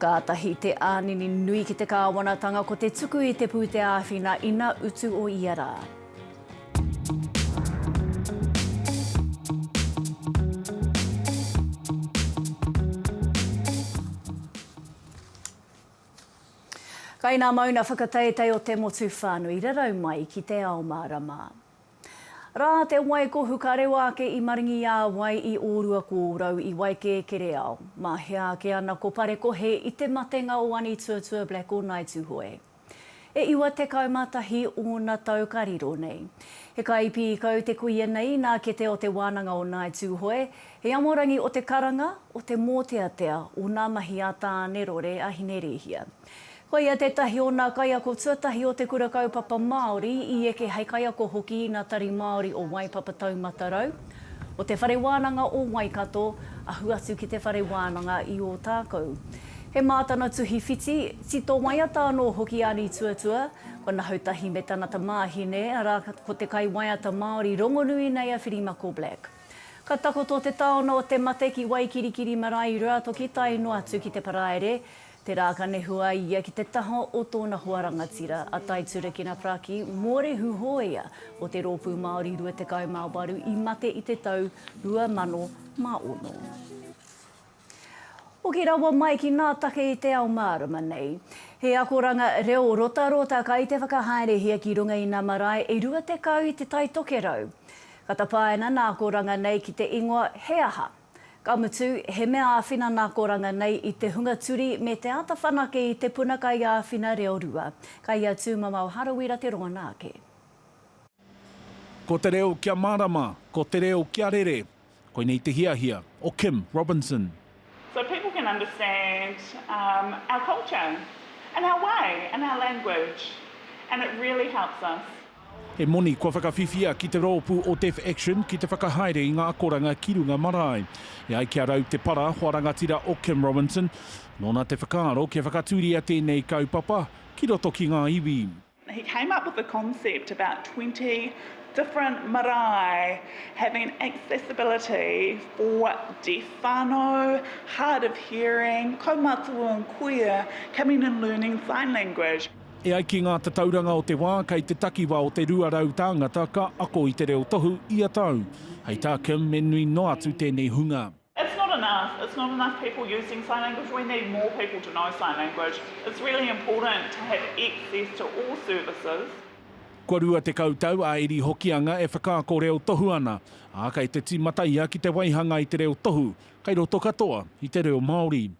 Kātahi te ānini nui ki te kāwanatanga ko te tuku i te pūtea āwhina ina utu o ia rā. Kai nā mauna whakateitei o te motu whānui rarau mai ki te ao mārama. Rā te wai ko Hukarewa ake i maringi i a wai i ōrua ko ōrau i Waikēkereao. Mā hea ake ana ko Parekohe i te matenga o Anituatua Black o Ngāi Tūhoe. E iwa tekau mā tahi ōna tau ka riro nei. He kai pīkau te kuia nei nā kete o te wānanga o Ngāi Tūhoe, he amorangi o te karanga, o te mōteatea o ngā mahi a Tāne Rore a Hinerēhia. Koia tētahi o nā kaiako tuatahi o te Kura Kaupapa Māori i eke hei kaiako hoki i ngā Tari Māori o Waipapa Taumata Rau, o Te Whare Wānanga o Waikato, ahu atu ki Te Whare Wānanga i Ōtākou. He mā tana tuhi whiti, tito waiata anō hoki a Nītuatua, ko Nahoutahi me tana tamāhine, arā, ko te kaiwaiata Māori rongonui nei a Whirimako Black. Ka takoto te taona o te mate ki Waikirikiri marae i Ruatoki tae noa atu ki te Paraire, Tērā ka nehu a ia ki te taha o tōna hoa rangatira, a Tai Turekina Praki, mōrehu hōia o te Rōpū Māori Rua Tekau mā Waru i mate i te tau 2006. Hoki rawa mai ki ngā take i te ao mārama nei. He akoranga reo rotarota kai te whakahaerehia ki runga i ngā marae e 20 i Te Tai Tokerau. Ka tapaina nā akoranga nei ki te ingoa He aha? Ka mutu, he mea āwhina nā Koranga nei i te hunga turi me te āta whanake i te puna kaiāwhina reo rua. Ka ia tūmamao Harawira te rongona ake. Ko te reo kia mārama, ko te reo kia rere, koinei te hiahia o Kim Robinson. So people can understand our culture and our way and our language and it really helps us. He moni kua whakawhiwhia ki te roopu o Deaf Action ki te whakahaere i nga akoranga ki runga marae. E ai ki a Rau Te Para, hoa rangatira o Kim Robinson, nona te whakaaro kia whakaturia tenei kaupapa ki roto ki nga iwi. He came up with the concept about twenty different marae having accessibility for deaf whanau, hard of hearing, kaumātua and kuia coming and learning sign language. E ai ki ngā tatauranga o te wā, kei te takiwā o te 200 tāngata ka ako i te reo tohu ia tau. Hei tā Kim, me nui noa atu tēnei hunga. It's not enough, it's not enough people using sign language, we need more people to know sign language. It's really important to have access to all services. Kua 20 tau a Eri Hokianga e whakaako reo tohu ana, ā, kei te tīmata ia ki te waihanga i te reo tohu, kei roto katoa i te reo Māori.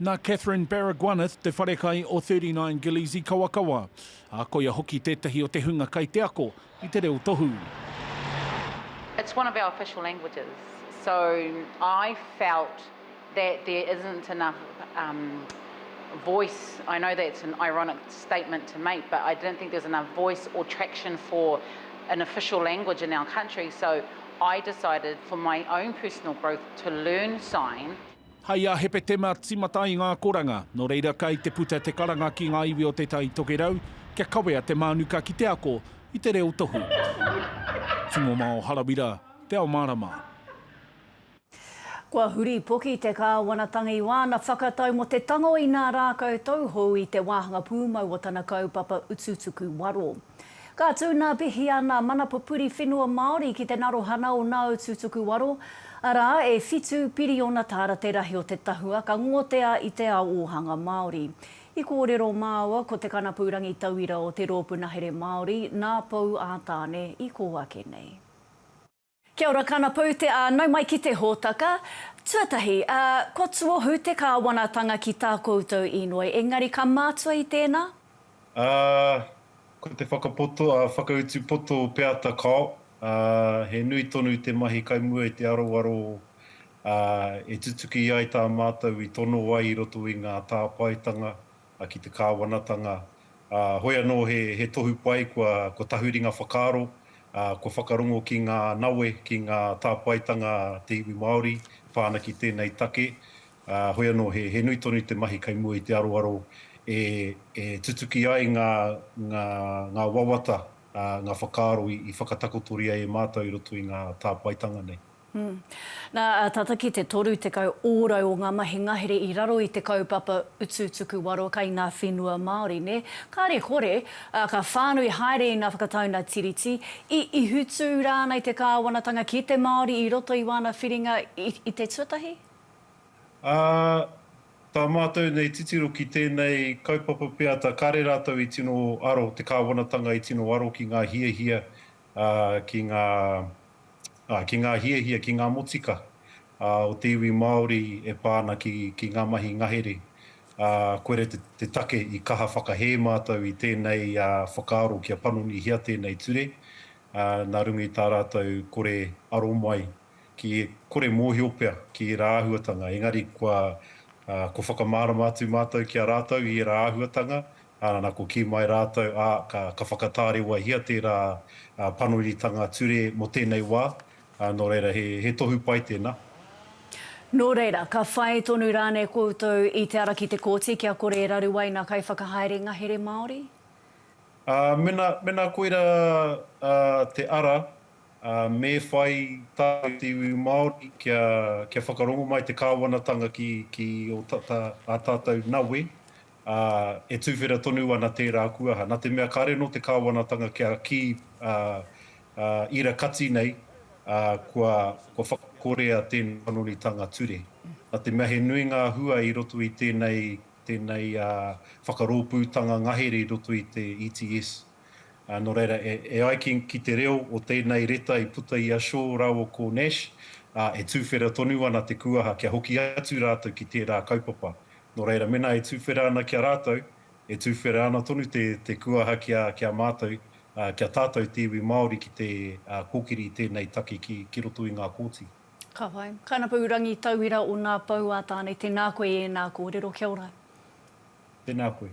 Nā Catherine Baragwanath te wharekai o Thirty Nine Gillies i Kawakawa, ā, koia hoki tētahi o te hunga kai te ako i te reo tohu. It's one of our official languages, so I felt that there isn't enough voice, I know that's an ironic statement to make, but I didn't think there was enough voice or traction for an official language in our country, so I decided for my own personal growth to learn sign. Hai a Hepetema timata i ngā koranga, nō reira kai te puta te karanga ki ngā iwi o Te Tai Tokerau kia kawea te mānuka ki te ako i te reo tohu. Tūmomao Harawira, Te Ao Mārama. Kua huripoki te Kāwanatanga i wāna whakatau mō te tango inā rākau tauhou i te wāhanga pūmau o tana kaupapa utu tuku waro. Ka tūnāpihia nā Mana Pupuri Whenua Māori ki te narohana o Nāu Tūtuku Waro, arā, e whitu piriona tāra te rahi o te tahua ka ngotea i te ao ōhanga Māori. I kōrero māua ko te kanapu rangitauira o te Rōpū Nahere Māori nā Pou ā-Tāne i kō ake nei. Kia ora kanapou te a nau mai ki te hotaka Tuatahi a kua tuohu te kawanatanga ki ta koutou inoi engari ka matua i tena. A ko te whakapoto a whakautu poto peata kao a he nui tonu te mahi kai mua i te aroaro a e tutuki ai ta matou i tono ai i roto i nga tapaetanga ki te kāwanatanga, ā, hoi anō he, he tohu pai kua, kua tahuri ngā whakaaro, ā, kua whakarongo ki ngā nawe, ki ngā tāpaetanga a te iwi Māori pā ana ki tēnei take, ā, hoi anō he, he nui tonu te mahi kei mua i te aroaro e, e tutuki ai ngā, ngā, ngā wawata, ā, ngā whakaaro i, i whakatakotoria e mātou i roto i ngā tāpaetanga nei. Nā, tata ki te 30 ōrau o ngā mahi ngahere i raro i te kaupapa Utu Tuku Waro kai ngā whenua Māori, nē? Kāre kore, ka whānui haere i ngā whakataunga Tiriti, i ihutū rānei te kāwanatanga ki te Māori i roto i wāna whiringa i te tuatahi? Ā, tā mātou nei titiro ki tēnei kaupapa peata kāre rātou i tino aro, te kāwanatanga i tino aro ki ngā hiahia ki ngā, ā, ki ngā hiahia, ki ngā motika, ā, o te iwi Māori e pā ana ki, ki ngā mahi ngahere, ā, koira te, te take i kaha whakahē mātou i tēnei, ā, whakaaro kia panonihia tēnei ture, ā, nā runga i tā rātou kore aro mai, ki, kore mōhio pea ki ērā āhuatanga, engari kua, ā, kua whakamārama atu mātou ki a rātou i ērā āhuatanga, Ā, nā, ko kī mai rātou, ā, ka, ka whakatārewahia tērā panonitanga ture mō tēnei wā, ā, nō reira, he, he tohu pai tēnā. Nō reira, ka whai tonu rānei koutou i te ara ki te kōti kia kore e raru ai ngā kaiwhakahaere ngahere Māori? Ā, mena, mena koira, ā, te ara, ā, me whai tātou te iwi Māori kia, kia whakarongo mai te Kāwanatanga ki, ki ō tata, ā tātou nawe, ā, e tuwhera tonu ana tērā kuaha, nā te mea kāre anō te Kāwanatanga kia kī, ā, ā, i ra kati nei, ā, kua, kua whakakorea tēnei panonitanga ture. Nā te mea he nui ngā hua i roto i tēnei, tēnei, ā, whakarōpūtanga ngahere i roto i te ETS. Ā, nō reira, e, e ai ki, ki te reo o tēnei reta i puta i a Shaw rāua ko Nash, ā, e tuwhera tonu ana te kuaha kia hoki atu rātou ki tērā kaupapa, Nō reira, mēnā e tuwhera ana ki a rātou, e tuwhera ana tonu te te kuaha ki a ki a mātou, ki a tātou te iwi Māori ki te kōkiri i tēnei take ki ki roto i ngā kōti. Ka pai. Kainapou Rangitauira o Ngā Pou a Tāne, tēnā koe i ēnā kōrero, kia ora. Tēnā koe.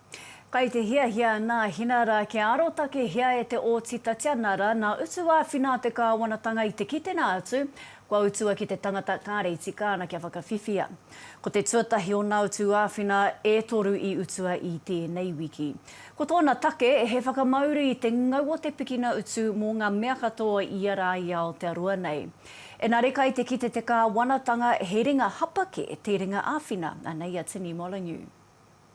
Kai te hiahia nā Hina rā kia arotakehia e te Ōti Tatiana rā nā utu āwhina te Kāwanatanga i te kitenga atu kua utua ki te tangata kāre tika ana kia whakawhiwhia. Ko te tuatahi o nā utu āwhina e toru i utua i tēnei wiki. Ko tōna take he whakamauru i te ngau o te pikina utu mō ngā mea katoa i ia rā i Aotearoa nei. Enare kai te kite te Kāwanatanga he ringa hapake te ringa āwhina, anei a Tini Molyneux.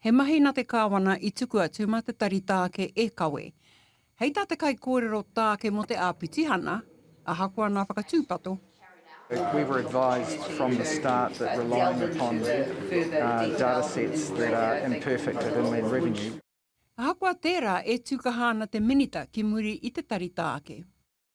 He mahi na te Kawana i tuku atu ma te tari taake e kawe. Hei ta te kaikōrero taake mo te Apitihana, ahakoa na whakatūpato, We were advised from the start that relying upon datasets that are imperfect of inland revenue. Ahakoa tērā, e tūkaha ana te Minita ki muri i te tari taake.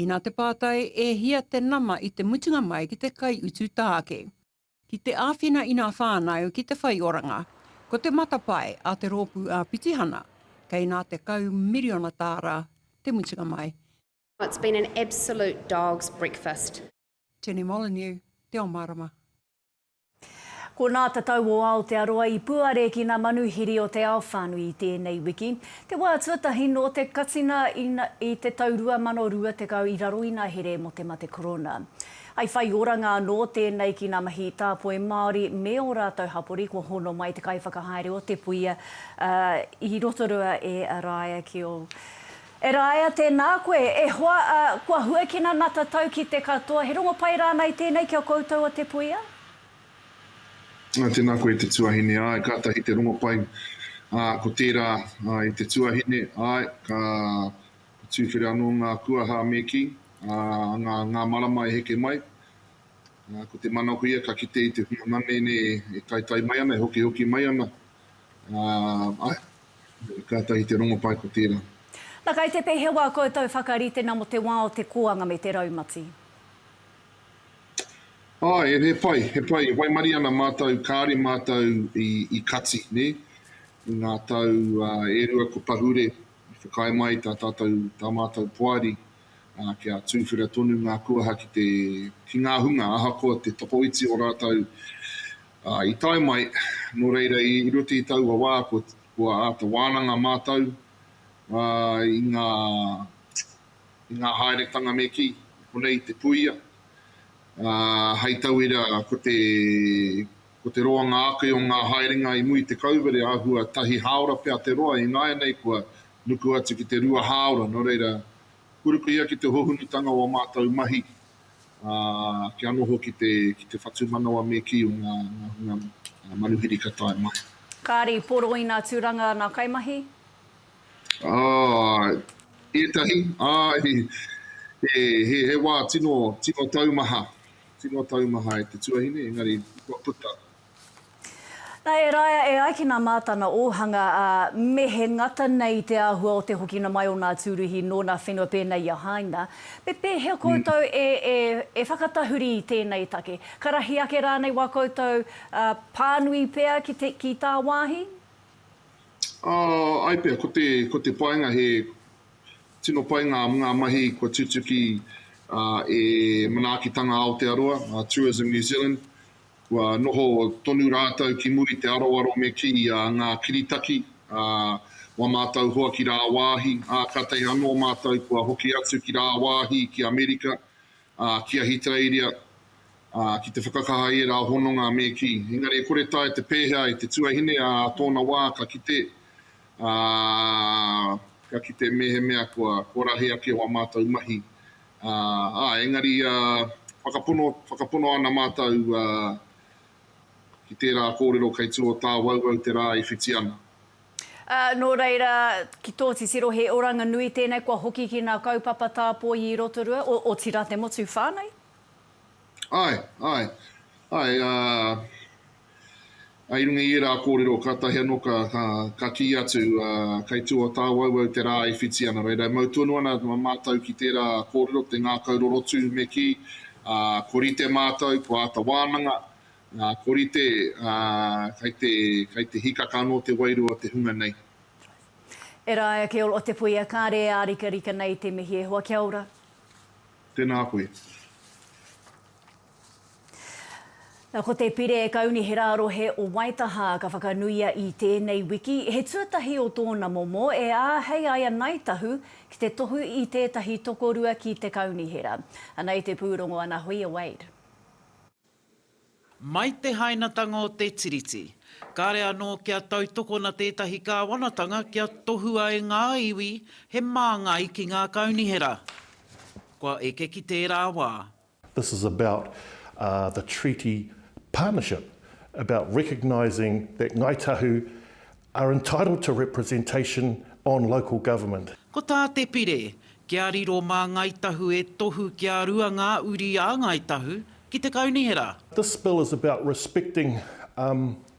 Ina te pātai, e hia te nama i te mutunga mai ki te kaiutu tāke? Ki te āwhina i nā whānau ki te whai oranga. Ko te matapae a te rōpū āpitihana, kei nā tekau miriona tāra te mutunga mai. It's been an absolute dog's breakfast. Jenny Molyneux, Te Omarama. Ko Nā Te Tau o Aotearoa i puare ki nā manuhiri o te ao whānui i tēnei wiki, te wā tuatahi nō te katinga i te tau 2020 i raro i nā here mō te mate korona. I whai oranga anō tēnei ki nā mahi tāpoi Māori me ō rātou hapori kua hono mai te kaiwhakahaere o Te Puia i Rotorua e Rāia Keall. E Rāea, tēnā koe, e hoa, ā, kua huakina ngā tatau ki te katoa, he rongopai rānei tēnei ki a koutou o te puia? Ā, tēnā koe e te tuahine, āe, kātahi te rongopai, ā, ko tērā, ā, i te tuahine, āe, ka, ka tūwhera anō ngā kuaha me kī, ā, ngā, ngā marama e heke mai, ā, ko te manakoia ka kite i te hunga manene e taetae mai ana, e hokihoki mai ana, Āe, kātahi te rongopai ko tērā. Na kai te pehewa koutou whakaritena mo te wa o te koanga me te raumati? Ae, he pai, he pai, e waimari ana matou, kaare matou i kati, ne? I nga tau e rua ko Pahure i whakaae mai ta tatou, ta matou poari, i ā, kia tūwhera tonu ngā kuaha ki te, ki ngā hunga ahakoa te tokoiti o rātou, ā, i tae mai, nō reira i roto i taua wā kua, kua āta wānanga mātou, ā, i ngā, i ngā haeretanga me kī, konei te puia, ā, hei tauira ko te, Ko te roa ngā ake o ngā haerenga i muri te kauwere āhua tahi hāora pea te roa i nāianei kua nuku atu ki te rua hāora nō reira purukuhia ki te hohunutanga o a mātou mahi ā kia noho ki te ki te whatumanawa me kī o ngā ngā hunga manuhiri ka tae mai. Kāri, poroina turanga ngā kaimahi? Āe, ētahi, āe he he wā tino tino taumaha. Tino taumaha e te tuahine, engari kua puta. Na, e Raea, e ai ki na Matana Ohanga, a, me he ngata nei te ahua o te hokina mai o na Turuhi no na whenua pena i a Haina. Me pehea koutou e, e, e whakatahuri i tenei take? Ka rahi ake ranei wa koutou, a, panui pea ki te, ki ta wahi? A, ai pea, ko te, ko te painga he, Tino pai ngā ngā mahi kua tutuki e Manaakitanga Aotearoa, Tourism New Zealand. Kua noho tonu rātou ki muri te aroaro me kī a ngā kiritaki a wa mātou hoa ki rāwāhi, ā, kātahi anō mātou kua hoki atu ki rāwāhi, ki Amerika, ā, ki Ahitereiria, ā, ki te whakakaha i ērā hononga me kī. Engari e kore tae te pēhea e te tuahine ā tōna wā ka kite ā, ka kite mēhemea kua korahi ake wā mātou mahi, ā, engari whakapono, whakapono ana mātou ki tērā kōrero kei tū o tāwauwau te rā i whiti ana. Ā, nō reira, ki tō titiro he oranga nui tēnei kua hoki ki ngā kaupapa tāpoi i Rotorua, otirā te motu whānau? Āe, āe, āe, ā. I runga i ērā kōrero kātahi anō ka kī atu, kei tua o tāwauwau te rā e whiti ana. Reira, e mau tonu ana mātou ki tērā kōrero, te ngākau rorotu me kī, ko rite mātou, ko āta wānanga, ko rite kei te hikaka anō te wairua o te hunga nei. E Rae ake o te puia kāre e ārikarika nei te mihi e hoa kia ora. Tēnā koe. Ko te Pire Kaunihera Rohe o Waitaha ka whakanuia i tēnei wiki, he tuatahi o tōna momo e āhei ai a Ngāi Tahu ki te tohu i tētahi tokorua ki te Kaunihera. Ana i te pūrongo ana Hoia Wade. Mai te hainatanga o te Tiriti, kāre anō kia tautokona tētahi kāwanatanga kia tohua e ngā iwi he māngai ki ngā kaunihera. Kua eke ki tērā wā. This is about the treaty partnership, about recognising that Ngāi Tahu are entitled to representation on local government. Ko tā Te Pire, Kia riro mā Ngāi Tahu e tohu kia rua ngā uri a Ngāi Tahu ki te Kaunihera. This bill is about respecting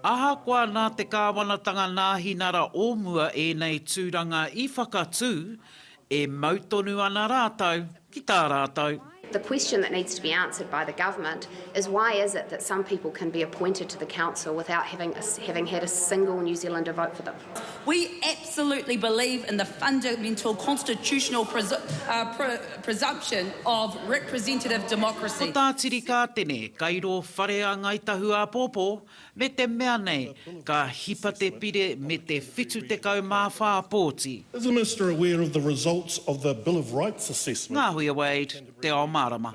Ahakoa nā te kāwanatanga nāhinara o mua ēnei tūranga i whakatū, e mau tonu ana rātou ki tā rātou. The question that needs to be answered by the government is why is it that some people can be appointed to the council without having had a single New Zealander vote for them? We absolutely believe in the fundamental constitutional presumption of representative democracy. Ko tā Tiri Kātene, Kairo Whare a Ngāi Tahu āpōpō, me te mea nei, ka hipa te pire me te 74 pōti. Is the Minister aware of the results of the Bill of Rights assessment? Ngāhuia Wade, Te Ao Mārama.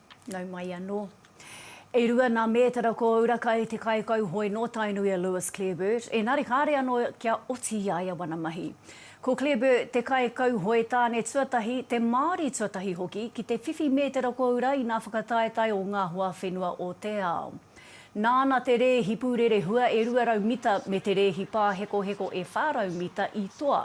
Nau mai anō. E rua nā mētara ko Urakai te kaikauhoe nō Tainui a Lewis Clareburt, ēnari kāre anō kia oti i a ia wana mahi. Ko Clareburt te kaikauhoe tāne tuatahi, te Māori tuatahi hoki, ki te whiwhi mētara ko ura i nā whakataetae o ngā hoa whenua o te ao. Nāna te rēhi pūrerehua e 200 mita me te rēhi pāhekoheko e 400 mita i toa.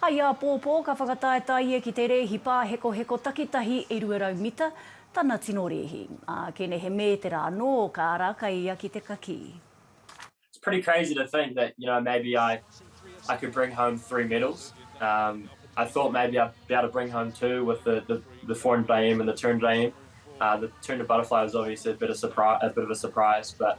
Hai āpōpō ka whakataetae ia ki te rēhi pāhekoheko takitahi e 200 mita tana tino rēhi, ā, kenehe mētera anō ka ara kai ia ki te kakī. It's pretty crazy to think that you know maybe I I could bring home three medals um I thought maybe I'd be able to bring home two with the the the 400 IM and the 200 IM uh the 200 butterfly was obviously a bit of a surprise but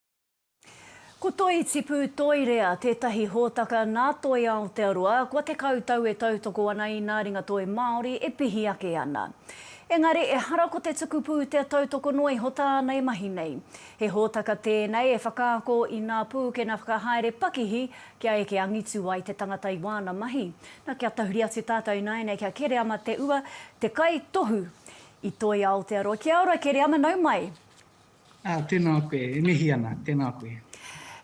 Ko Toi Tipu Toirea tētahi hōtaka nā Toi Aotearoa kua tekau tau e tautoko ana i nā ringa toi Māori e pihi ake ana. Engari ehara ko te tuku pūtea tautoko noa iho tāna e mahi nei. He hōtaka tēnei e whakaako i nā pūkena whakahaere pakihi kia eke angitu ai te tangata i wāna mahi. Na, kia tahuri atu tātou ināianei kia Kereama Te Ua, te kaitohu i Toi Aotearoa. Kia ora Kereama, nau mai! Aa, tena koe, e mihi ana, tena koe.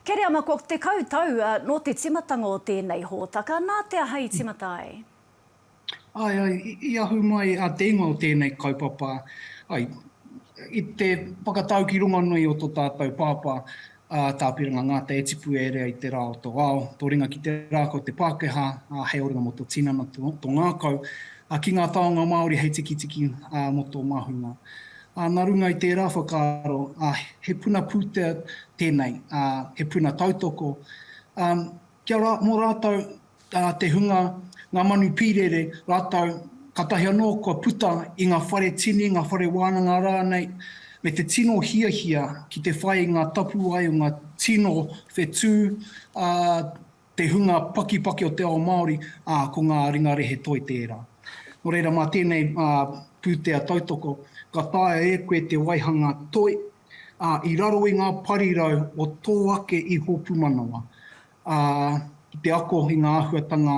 Kereama, kua tekau tau no te timatanga o tenei hōtaka, na te aha i timata ai? Ae, ae, i ahu mai a te ingoa o tenei kaupapa, ae, i te whakatau ki runga nui o to tatou pāpā, a Tāpiranga Ngata e tipu e rea i te rā o tō ao, tō ringa ki te rā kau te Pākehā, ā, hei oranga mō tō tinana, tō ngākau, ā, ki ngā taonga Māori hei tikitiki, ā, mō tō māhunga. Ā, nā runga i tērā whakaaro, ā, he puna pūtea tēnei, ā, he puna tautoko, ā, Kia ra, mo ratou te hunga, nga manu pirere, ratou, katahi ano kua puta i nga whare tini, nga whare wananga ranei, me te tino hiahia ki te whai i nga tapuwae o nga tino whetu a te hunga pakipaki o te ao Maori, a, ko nga ringa rehe toi tera. No reira ma tenei putea tautoko, ka taea e koe te waihanga toi, ā, i raro i ngā parirau o tō ake iho pūmanawa, ā, ki te ako i ngā āhuatanga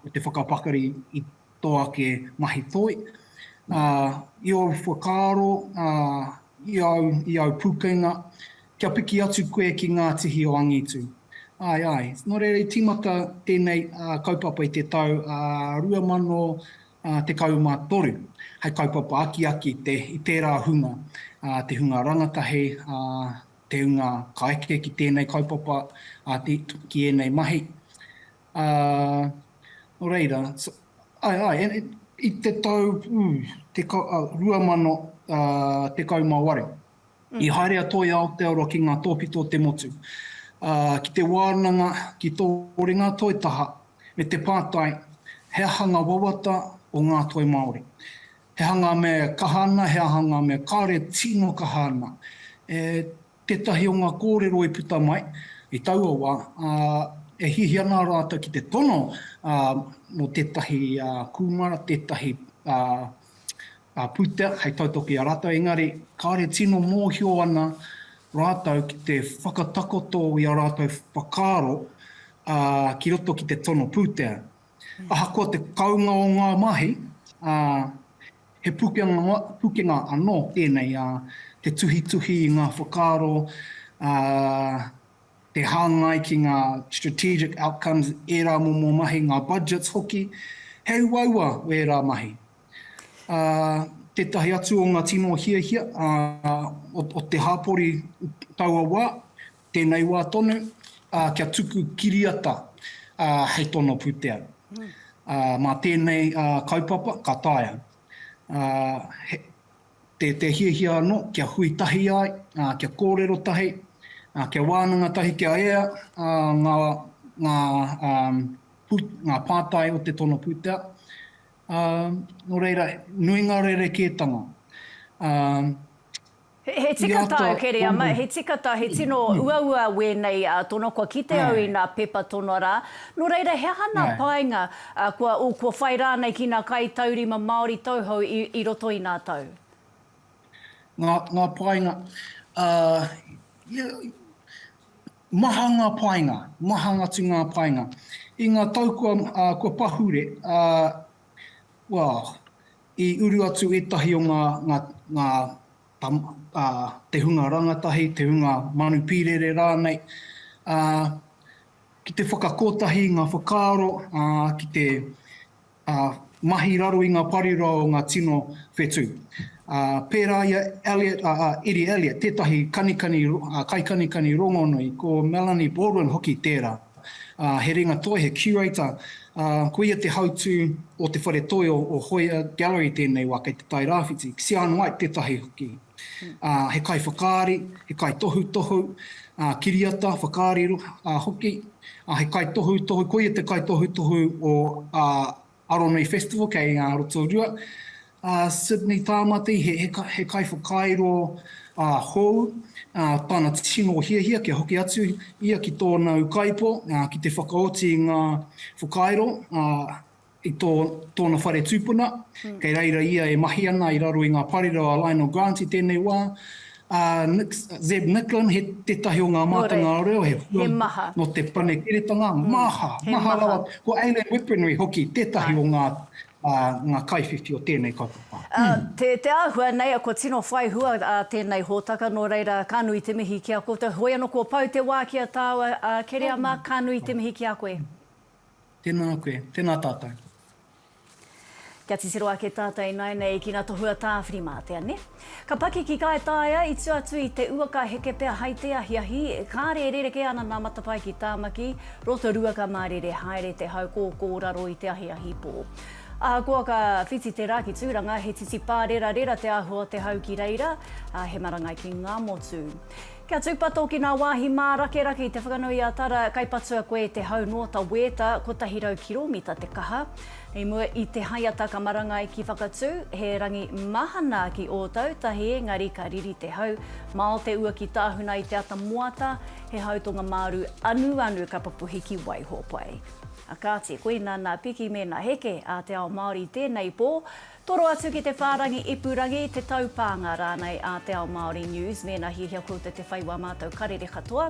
o te whakapakari i tō ake mahi toi, ā, i ōu whakaaro, ā, i āu, i āu pūkenga, kia piki atu koe ki ngā tihi o angitu. Āe, āe. Nō reira, i tīmata tēnei kaupapa i te tau 2000, 13. Hai kaupapa akiaki i tērā hunga, te hunga rangatahi, te hunga ka eke ki tēnei kaupapa, ki ēnei mahi. Nō reira, i te tau 2018, I haere a Toi Aotearoa ki ngā tōpito o te motu, ā, ki te wānanga, ki tō ringa toi taha, me te pātai, He aha ngā wawata o ngā toi Māori? He aha ngā mea e kaha ana, he aha ngā mea kāore e tino kaha ana? E tētahi o ngā kōrero i puta mai i taua wā, ā, e hiahia ana rātou ki te tono, ā, mō tētahi kūmara, tētahi a Putea hei tautoko i a rātou, engari kāre tino mōhio ana rātou ki te whakatakoto i a rātou whakaaro ki roto ki te tono pūtea. Ahakoa te kounga o ngā mahi, he pukenga anō tēnei te tuhituhi i ngā whakaaro, te hāngai ki ngā strategic outcomes, ērā momo mahi, ngā budgets hoki, he uaua ērā mahi. Ā, tētahi atu o ngā tino hiahia ā, o, o te hapori taua wā, tēnei wā tonu, ā, kia tuku kiriata ā, hei tono pūtea. Ā, mā tēnei ā, kaupapa ka taea ā, he, Te, te hiahia anō kia hui tahi ai, ā, kia kōrero tahi, ā, kia wānanga tahi, kia ea, ā, ngā, ngā, ā, pū, ngā pātai o te tono pūtea. Ā, nō reira, nui ngā rerekētanga. Ā. He, he tika tāu, Kereama, he tika tāu, he tino uaua wēnei tono, kua kite au i ngā pepa tono rā. Nō reira, he aha ngā painga? Ā, kua, oh, kua whai rānei ki nā kaitaurima Māori tauhou i, i roto i nā tau? Ngā, ngā painga, ā, ia, maha ngā painga, mahang atu ngā painga. I ngā tau kua, ā, kua pahure, ā, well, i uru atu ētahi o ngā, ngā, ngā, tama, te hunga rangatahi, te hunga manu pīrere rānei, ā, ki te whakakotahi i ngā whakaaro, ā, ki te mahi raro i ngā parirua o ngā tino whetū. Ā, pērā i a Elliot, ā, a Eddie Elliot, tētahi kanikani, kaikanikani rongonui, ko Melanie Baldwin hoki tērā. ā, he ringatoi, he curator, ā, ko ia te hautū o te whare toi o Hoia Gallery tēnei wā kei Te Tai Rāwhiti, Sian White tētahi hoki. Ā, he kaiwhakaari, he kaitohutohu, ā, kiriata, whakaari hoki, ā, he kaitohutohu, ko ia te kaitohutohu o Aronui Festival kei a Rotorua. A Sydney Tāmati, he kaiwhakairo hou, tana tino hiahia kia hoki atu ia ki tōna ukaipo ki te whakaoti i ngā whakairo i tōna whare tūpuna. Kei reira ia e mahi ana i raro i ngā parirau a Lionel Grant i tēnei wā. A Zeb Nicklin, he tetahi o nga mātanga reo, he hua no te panekiretanga, maha, maha rawa. Ko Aileen Whippenry hoki, tetahi o nga nga kaiwhiwhi o tenei kaupapa. Te te ahua nei a kua tino whai hua a tenei hotaka no reira ka nui te mihi ki a koutou. Hoi ano kua pau te wa ki a tau a Kereama, ka nui te mihi ki a koe. Tena koe, tena tatou. Kia titiro ake tata inainei ki nga tohu a Tawhirimātea, ne? Ka pakiki kai taea i tua atu i te ua ka heke pea hai te ahiahi, kare e rereke ana na matapae ki Tamaki, Rotorua ka marere haere te hau ko ko raro i te ahiahi po. Ahakoa ka whiti te ra ki Turanga he titipā rerarera te ahua o te hau ki reira, a he marangai ki nga motu. Kia tūpato ki ngā wāhi mārakerake i Te Whanganui-a-Tara, kai patua koe i te hau noa ta wēta, 100 kiromita te kaha. I mua i te haiata ka marangai ki Whakatū, he rangi mahana ki Ōtautahi engari ka riri te hau mao te ua ki Tāhuna i te ata moata, he hau tonga māru anuanu ka pupuhi ki Waihōpai. Kāti, koina nā Piki me nā Heke a te ao Māori i tēnei pō, Toro atu ki te whārangi ipurangi, te taupānga rānei a Te Ao Māori News mēnā hiahia koutou te whai wā mātou karere katoa.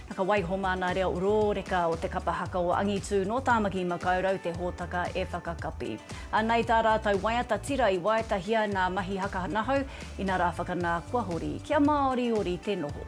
Na ka waiho māna reo rōreka o te kapa haka o Angitū nō Tāmaki Makaurau te hōtaka e whakakapi. Anei tā rātou waiata tira i waetahia nā Mahi Haka Nahau, inarā whakanā kua hori kia māoriori te noho.